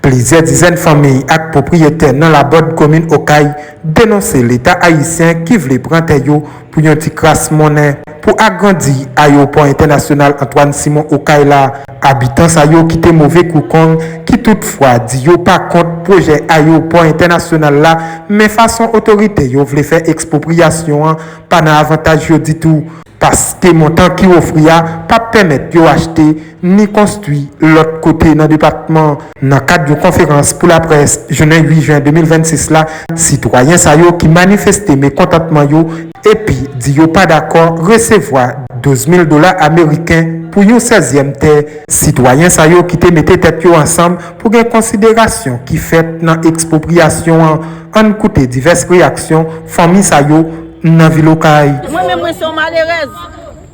Plizyè dizèn fanmiy ak pwopriyetè nan Labòd komin Okay denonse leta ayisyen ki vle pran tè yo pou yon ti kras monnen pou agrandi ayewopò entènasyonal Antwàn Simon Okay la. Abitan sa yo kite move kou kong ki tout fwa di yo pa kont pwojè ayewopò entènasyonal la men fason otorite yo vle fè ekspwopriyasyon an pa nan avantaj yo ditou. paske montan ki ofri a p ap pèmèt yo achte ni konstwi lòt kote nan depatman. Nan kad yon konferans pou laprès jounen 8 jen 2026 la, sitwayen sa yo ki manifeste mekontantman yo epi di yo pa dakò resevwa 12 mil dola ameriken pou yon sèzyèm tè, sitwayen sa yo ki te mete tèt yo ansanm pou gen konsiderasyon ki fèt nan ekspropriyasyon an, ann koute divès reyaksyon fanmi sa yo. M nan vil okay. Mwen menm mwen se yon malerèz.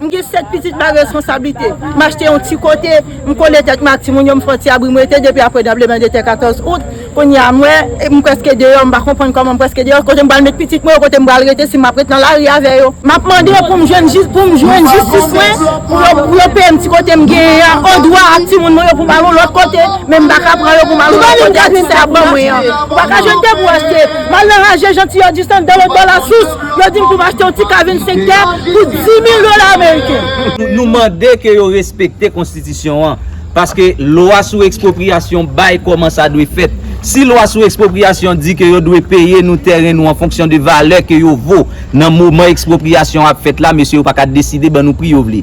M gen 7 pitit bay reskonsablite. M achte yon ti kote, m kole tèt mwen ak timoun yo, m fè yon ti abri m rete depi aprè tranbleman de tè 14 out. Kounye a m wè, m prèske deyò, m pa konprann kòman m prèske deyò, kote m pral met pitit mwen yo, kote m pral rete si m ap ret nan lari avè yo. M ap mande pou m jwenn jis, pou m jwenn jistis mwen, pou yo, pou yo peye m ti kote m genyen an, an dwa ak timoun mwen yo pou m al yon lòt kote, men m pa ka pran yo pou m al yon lòt kote ak ti sa y ap ban mwen an. Ou pa ka jwenn tè pou w achte. M al nan Haje Janti Augustin de lòt bò Lasous, yo di m pou m achte yon ti kav yon sektè pou 10,000 dola ameriken. Nou mande ke yo respekte konstitisyon an, paske lwa sou ekspropriyasyon bay kòman sa dwe fèt. Si lwa sou ekspropriyasyon di ke yo dwe peye nou tèren nou an fonksyon de valè ke yo vo nan moman ekspropriyasyon an ap fèt la, mesye yo pa ka deside ban nou pri yo vle.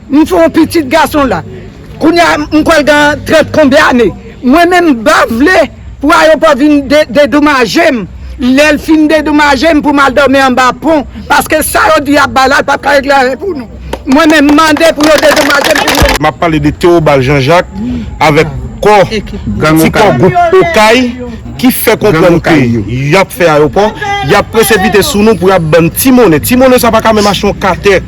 M fè yon pitit gason la. Kounye a m kwè l gen trant konbyen ane. Mwen menm m pa vle pou ayopò vin dedomaje m. Lè l fin dedomaje m pou m al dòmi anba pon. Paske sa yo di y ap bay la l pap ka regle anyen pou nou. Mwen menm m mande pou yo dedomaje m pou mwen. M ap pale de Théobald Jean Jacques avèk kò ti kò gwoup Okay ki fè konprann ke y ap fè ayopò. Y ap presepite sou nou pou y ap ban n ti monnen. Ti monnen sa pa ka menm achte yon katè.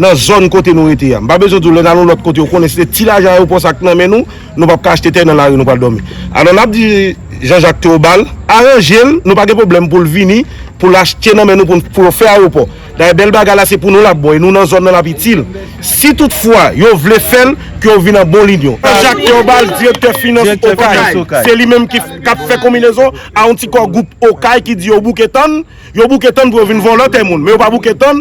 Nan zòn kote nou rete a. M pa bezwen di w lè n al yon lòt kote ou konnen se ti lajan ayewopò sa k nan men nou, nou p ap ka achte tè nan lari nou pral dòmi. Alò n ap di Jean Jacques Theobald aranje l, nou pa gen pwoblèm pou l vini pou l achte nan men nou pou n pou yo fè ayewopò. Dayè bèl bagay la se pou nou l ap bon e nou nan zòn nan l ap itil. Si tout fwa yo vle fè l ke yo vin an bon linyon. Jean Jacques Theobald direktè finans Okay. Se li menm ki k ap fè konminezon a yon ti kò gwoup Okay ki di yo bouke tann, yo bouke tann pou yo vin vòlò tè moun men yo pa bouke tann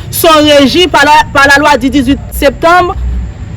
son reji pa la pa la lwa di 18 septanm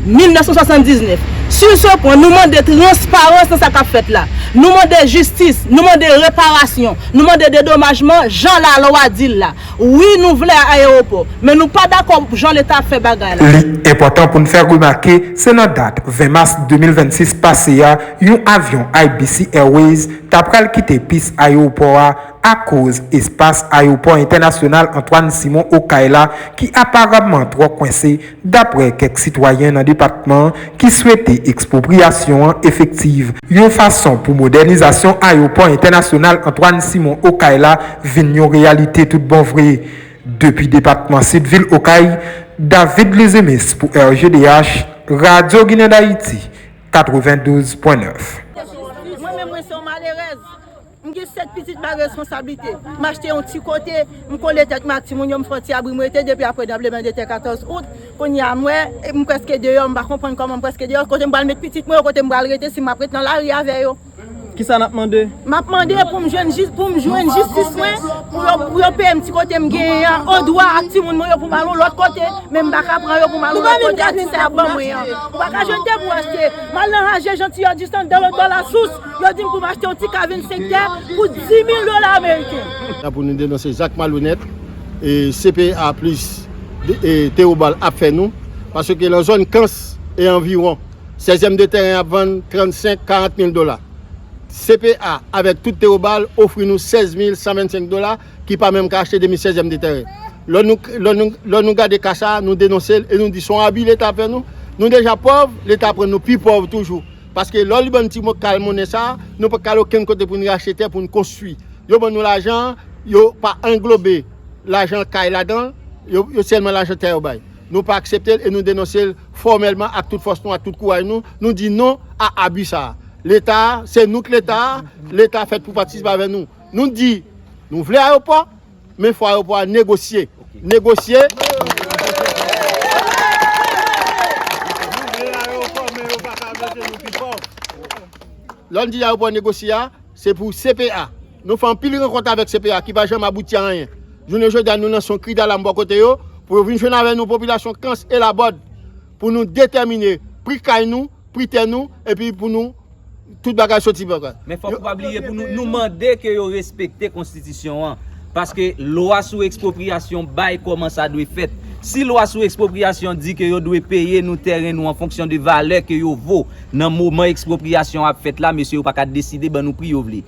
1979. Su se pwen, nou mande transparans nan sa k ap fèt la. Nou mande jistis, nou mande reparasyon, nou mande dedomajman jan la lwa di l la. Wi nou vle a ayewopò, men nou pa dakò pou jan leta ap fè bagay la. Li enpòtan pou n fè remake se nan dat 20 mas 2026 pase a yon avyon IBC Airways ta pral kite pis ayewopò a, akoz espas ayewopò entènasyonal Antoine Simon Okay la ki aparamman twò kwense, daprè kèk sitwayen nan depatman an ki swete ekspwopriyasyon an efektiv, yon fason pou modènizasyon ayewopò entènasyonal Antoine Simon Okay la vin yon reyalite tout bon vre. Depi depatman Sid vil Okay, David Luzumis pou RGDH, Radyo Ginen Dayiti 92 pwen 9. M gen 7 pitit bay reskonsablite. M achte yon ti kote, m kole tèt mwen ak timoun yo, m fè yon ti abri m rete depi aprè tranblemanndetè 14 out. Kounye a m wè, m prèske deyò, m pa konprann kòman m prèske deyò. Kote m pral met pitit mwen yo, kote m pral rete si m ap ret nan lari avè yo? Kisa n ap mande? M ap mande pou m jwenn jistis mwen, pou yo peye m ti kote m genyen an odwa ak timoun mwen yo pou m al yon lòt kote, men m pa ka pran yo pou m al yon lòt kote ak ti sa y ap ban mwen an. Ou pa ka jwenn debou achte. M al nan Haje, Jantiyòdis, Andalou, Dwalasous. Yo di m pou m achte yon ti ka 25 tè pou 10 mil dola ameriken. La pou nou denonse zak malonèt CPA plis Theobald ap fè nou, paske lan zòn Kans e anviwon, sèzèm de tèren ap vann 35, 40 mil dola. CPA avèk tout Theobald ofri nou 16 mil 125 dola ki pa menm ka achte demi sèzèm de tèren. Lò nou gade ka sa a, nou denonse l e nou di son abi leta fè nou. Nou deja pòv, leta pran nou pi pòv toujou. Paske lò li ban n ti mo kal monnen sa, nou pa ka al okenn kote pou n rachte tè pou n konstwi. Yo ban nou lajan an, yo pa anglobe lajan kay ladan l, yo yo sèlman lajan tè yo bay. Nou pa aksepte l e nou denonse l fòmèlman ak tout fòs nou, ak tout kouraj nou, nou di non a abi sa a. Leta a, se nou k Leta a, Leta a fèt pou patisipe avè nou. Nou di, nou vle ayopò. Men fwa yo pwa negosye. Negosye. Lè nou di ya yo pwa negosye ya, se pou CPA. Nou fè anpil renkont avèk CPA ki pa janm abouti a anyen. Jounen jodi ya nou lanse yon kri dalam bò kote yo pou yo vin jwenn avè nou popilasyon Kans e Labòd pou nou detèmine pri kay nou. pri tè nou epi pou nou tout bagay soti pou bagay. Men fòk ou pa bliye pou nou mande ke yo respekte konstitisyon an. Paske lwa sou ekspropriyasyon bay kòman sa dwe fèt. Si lwa sou ekspropriyasyon di ke yo dwe peye nou tèren nou an fonksyon de valè ke yo vo nan moman ekspropriyasyon an ap fèt la, mesye yo pa ka deside ban nou pri yo vle.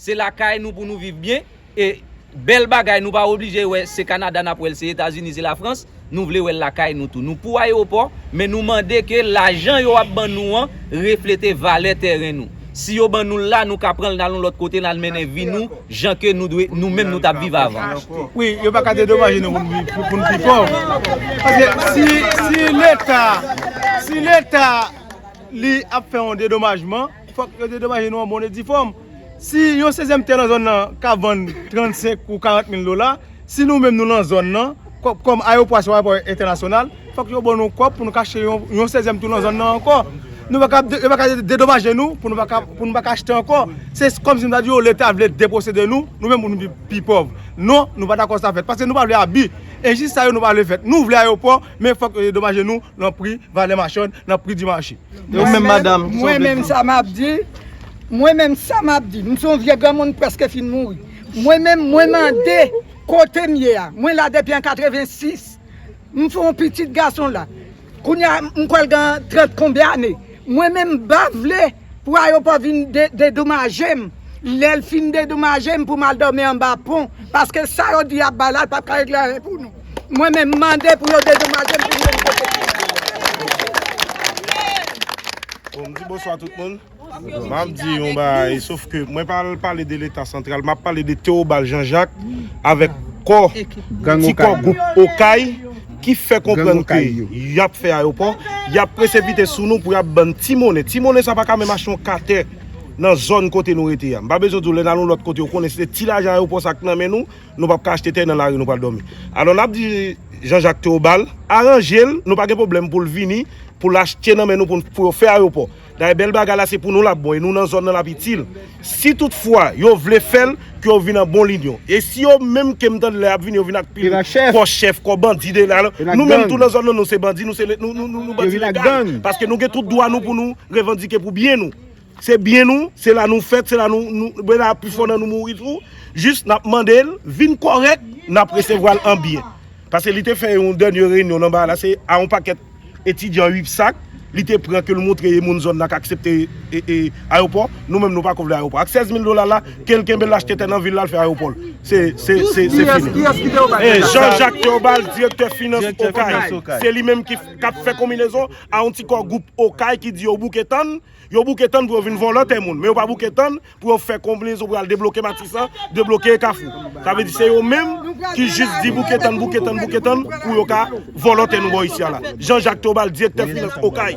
Se lakay nou pou nou viv byen e Bel bagay nou pa oblije wè se Canada nap wèl se Etazini se la France nou vle wèl lakay nou tou nou pou ayewopò men nou mande ke lajan yo ap ban nou an reflete valè tèren nou si yo ban noul la nou ka pranl nal yon lòt kote nal mennen vi nou jan ke nou dwe nou menm nou tap viv avan. Wi yo paka dedomaje nou pou nou pi pòv paske si si leta si leta li ap fè yon dedomajman. Fòk yo dedomaje nou an bon e di fòm. Si yon sezyèm tè nan zòn nan ka vann 35 ou 40 mil dola, si nou menm nou lan zòn nan, kòm ayewopò a se yon ayewopò entènasyonal, fòk yo ban nou kòb pou nou ka achte yon sezyèm tou lan zòn nan ankò. Nou pa ka, yo pa ka dedomaje nou pou nou pa ka achte ankò. Se kòm si nou ta di yo leta vle deposede nou, nou menm pou nou vin pi pòv. Non, nou pa dakò sa fèt. Paske nou pa vle abi. Enjis sa yo nou pa vle fèt. Nou vle ayewopò, men fòk yo dedomaje nou. nan pri valè machann, nan pri di mache. E ou menm madanm, kisa ou vle di? Mwen menm sa m ap di, mwen menm sa m ap di, m se yon vye granmoun m prèske fin mouri. Mwen menm mwen mande kote m ye a, mwen la depi an 86, m se yon pitit gason la. Kounye a m kwè l gen 30 konbyen ane. Mwen menm m pa vle Pwa yo pa vin dedomaje m. Lè l fin dedomaje m pou m al dòmi anba pon. Paske sa yo di y ap bay la, l pap ka regle anyen pou nou. Mwen menm, m mande pou yo dedomaje m pou m jwenn kote pou m ale. Bon, m di bonswa tout moun. M ap di yon bagay, sof ke mwen pa al pale de leta santral. M ap pale de Tewobal Janjak avèk kò, ti kò gwoup Okay. ki fè konprann ke y ap fè ayopò, y ap presepite sou nou pou y ap ban n ti monnen. Ti monnen sa pa ka menm achte yon ka tè nan zòn kote nou rete a. M pa bezwen di w lè n al yon lòt kote yo konnen se te ti lajan ayopò sa k nan men nou, nou pa p ka achte tè nan lari nou pral dòmi. Alò n ap di Jan Jak Teobal aranje l, nou pa gen pwoblèm pou l vini pou l achte nan men nou pou yo fè ayopò. Dayè bèl bagay la se pou nou lap bon e nou nan zòn nan lap itil. Si tout fwa yo vle fèl ke yo vin an bon linyon. E si yo menm kem tande la yap vini yo vin ak pil kò chèf kò bandi de la nou menm tou nan zòn nan nou se bandi nou se nou bandi legal paske nou gen tout dwa nou pou nou revandike pou byen nou. Se byen nou se la nou fèt se la nou be la pi fò nan nou mouri tou jis nap mandel vin kòrèk nap resevwal an byen. Pase li te fè yon dènye renyon nan ba la se a yon pakèt. Etidyan ui psak Li te pran kel moutre e moun zòn nan k aksepte e ayopò nou menm nou pako vle ayopò ak 16 mil dola la kel kenbel achte tè nan vil lal fè ayopòl se se se fini e Jean Jacques Theobald direktè finans okay se li menm ki kap fè konminezon a yon ti kò gwoup okay ki di yo bouke tann Yo bouke tann pou yo vin vòlò tè moun, men yo pa bouke tann pou yo fè konblinezon pou yo al debloke Matisan, debloke Kafou. Sa vle di se yo menm ki jis di bouke tann, bouke tann, bouke tann pou yo ka vòlò tè nou bò isi a la. Jean Jacques Theobald, Direktè Finans Okay.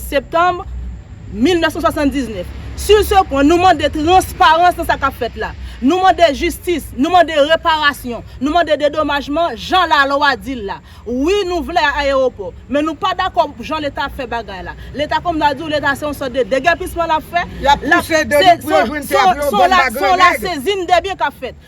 septanm 1979. Sur ce point, nou mande transparans nan sa k ap fèt la. Nou mande jistis, nou mande reparasyon, nou mande dedomajman jan lalwa di l la. Wi nou vle a ayewopò, men nou pa dakò pou jan Leta ap fè bagay la. Leta kòm nan di w Leta se yon sòt de degèpisman l ap fè, l ap pouse deni pou yo jwenn tè pou yo vann bagre nèg. Se yon lasezin debyen k ap fèt.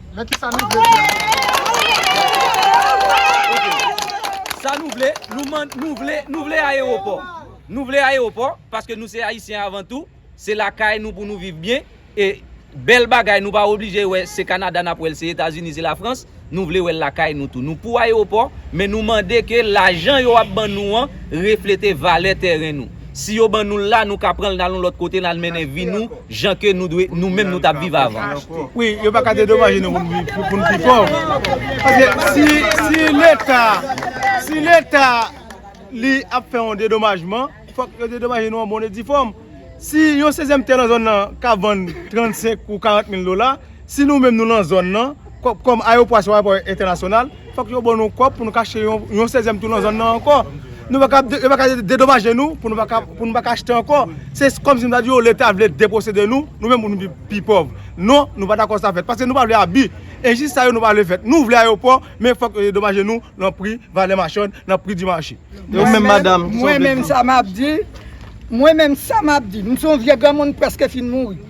Men ki sa nou vle pou nou. Sa nou vle, nou vle, nou vle ayewopò. Nou vle ayewopò paske nou se Ayisyen avan tou. Se lakay nou pou nou viv byen. E bèl bagay nou pa oblije wè se Kanada nap wèl, se Etazini, se Lafrans. Nou vle wèl lakay nou tou. Nou pou ayewopò men nou mande ke lajan yo ap ban nou an reflete valè tèren nou. Si yo ban nou l la, nou ka pran l nal yon lòt kote nal mennen vi nou jan ke nou dwe nou menm nou tap viv avan. Wi, yo pa ka dedomaje nou pou n pi pòv. Paske si si leta si leta li ap fè yon dedomajman, fòk yo dedomaje nou an bon e di fòm. Si yon sezyèm tè nan zòn nan ka vann 35 ou 40 mil dola. Si nou menm nou lan zòn nan, kòm ayewopò a se yon ayewopò entènasyonal, fòk yo ban nou kòb pou nou ka achte yon sezyèm tou lan zòn nan ankò. Nou pa ka, yo pa ka dedomaje nou pou nou pa ka achte ankò. Se kòm si m ta di yo Leta vle deposede nou, nou menm pou nou vin pi pòv. Non, nou pa dakò sa fèt. Paske nou pa vle abi. Enjis sa yo nou pa vle fèt. Nou vle ayewopò, men fòk yo dedomaje nou lan pri valè machann, lan pri di mache. E ou menm madam, ki sa w vle di? Mwen menm sa m ap di, mwen menm sa m ap di, m se yon vye granmoun preske fin mouri.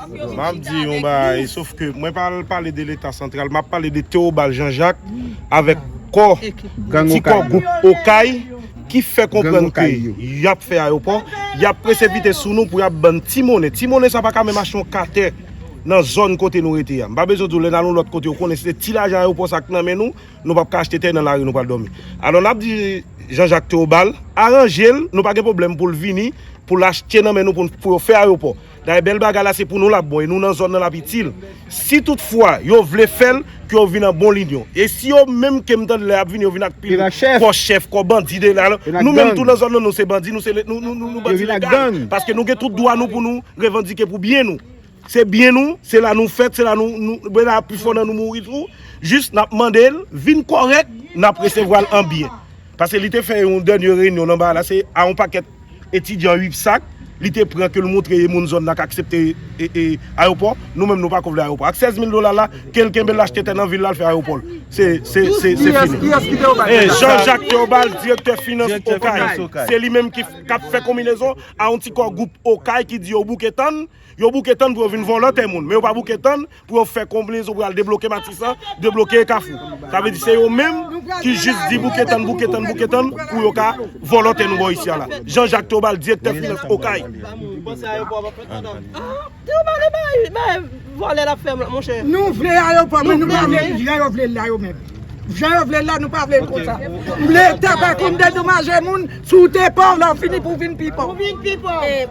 M ap di yon bagay, sof ke mwen pa pale de leta santral, m ap pale de Théobald Jean Jacques avèk kò, ti kò gwoup Okay ki fè konprann ke y ap fè ayopò, y ap presepite sou nou pou y ap ban n ti monnen. Ti monnen sa pa ka menm achte yon katè nan zòn kote nou rete a. M pa bezwen di w lè n al yon lòt kote ou konnen se ti lajan ayopò sa k nan men nou, nou pa p ka achte tè nan lari nou pral dòmi. Alò n ap di Jean Jacques Théobald aranje l, nou pa gen pwoblèm pou l vini pou l achte nan men nou pou yo fè ayopò. Dayè bèl bagay la se pou nou lap bon e nou nan zòn nan lap itil. Si tout fwa yo vle fèl ke yo vin an bon linyon. E si yo menm kem tande la yap vini yo vin ak pil kò chèf, kò bandi de la. Nou menm tou nan zòn nan nou se bandi nou se nou bandi legal. Paske nou gen tout dwa nou pou nou revandike pou byen nou. Se byen nou, se la nou fèt, se la nou, be la pifò nan nou mouri tou. Jis nap mandel vin kòrèk nap resevwal an byen. Pase li te fè yon dènye reyinyon nan ba la se a yon pakèt etidyan UPSAC li te pran ke l montre e moun zòn nan k aksepte ayopò. Nou menm nou pa ko vle ayopò. Ak 16 mil dola l la, ke l kenbe l achte tè nan vil la l fè ayopò l. Se fini. Jean Jacques Theobald, direktè finans Okay. Se li menm k ap fè konminezon a yon ti kò gwoup Okay ki di yo bouke tann. Yo bouke tann pou yo vin vòlò tè moun, men yo pa bouke tann pou yo fè konblezon pou yo al debloke Matisan, debloke Kafou. Sa vle di se yo menm ki jis di bouke tann, bouke tann, bouke tann pou yo ka vòlò tè nou bò isi a la. Jean Jacques Theobald, Direktè Finans Okay.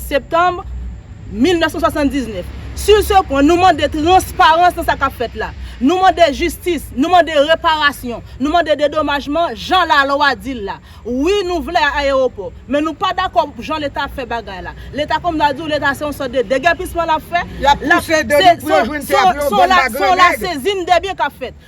Septanb, 1979. Sur ce point, nou mande transparans nan sa k ap fèt la. Nou mande jistis, nou mande reparasyon, nou mande dedomajman jan lalwa di l la. Wi nou vle ayewopò, men nou pa dakò pou jan Leta ap fè bagay la. Leta kòm m ta di w, Leta se yon sòt de degèpisman l ap fè. L ap pouse dè nou pou yo jwenn tè a pou yo vann ba gran nèg. Se yon lasezin dè byen k ap fèt.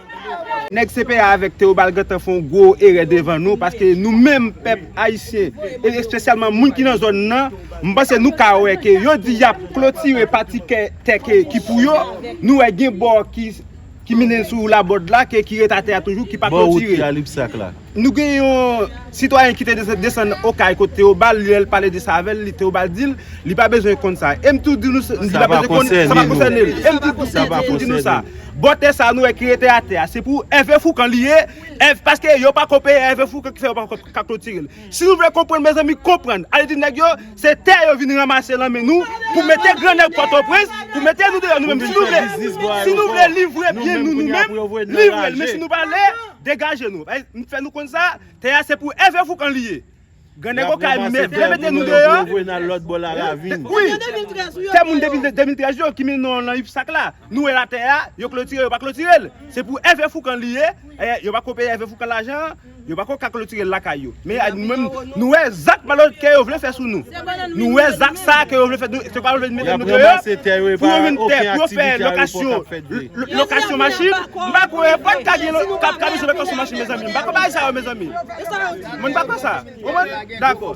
Nèg CPA avèk Theobald gentan fè yon gwo erè devan nou paske nou menm pèp Ayisyen e espesyalman moun ki nan zòn nan m panse nou ka wè ke yo di y ap klotire pati tè ke ki pou yo nou wè gen bò ki mennen sou Labòd la ke ki ret atè a toujou ki pa klotire. Nou gen yon sitwayen ki te desann Okay kot Théobald lè l pale de sa avè l, Théobald di l li pa bezwen konn sa. E m tou di nou li pa bezwen konn sa pa konsène l. E m tou di nou sa, bò tè sa a nou wè ki rete atè a se pou Hervé Fourcand li ye, paske yo pa ko peye Hervé Fourcand ki fè yo pa ka klotire l. Si nou vle konprann mezanmi konprann, ale di nèg yo se tè yo vin ranmase lan men nou pou mete gran nèg Pòtoprens, pou mete nou deyò nou menm si nou vle livre byen nou nou menm, livre l men si nou pa vle. Degaje nou! M fè nou konn sa, tè a se pou Ève Foukan li ye! Grannèg okay m vle mete nou deyò! Yo voye n al lòt bò Laravin! Wi! Tè moun depi 2013 yo ki met non nan UPSAC la! Nou wè la tè a, yo klotire yo pa klotire l! Se pou Ève Foukan li ye! Yo pako peye Ève Foukan lajan an! Yo pako ka klotire l lakay yo! Men ay nou menm nou wè zak malonèt kè yo vle fè sou nou. Nou wè zak sa ke yo vle fè nou se pa yo vle mete nou deyò pou yo vin tè pou yo fè lokasyon lokasyon machin m pa kwè pat ka gen kap ka bezwen lokasyon machin mezanmi m pa kwè bagay sa yo mezanmi mwen pa kwè sa ou konprann dakò.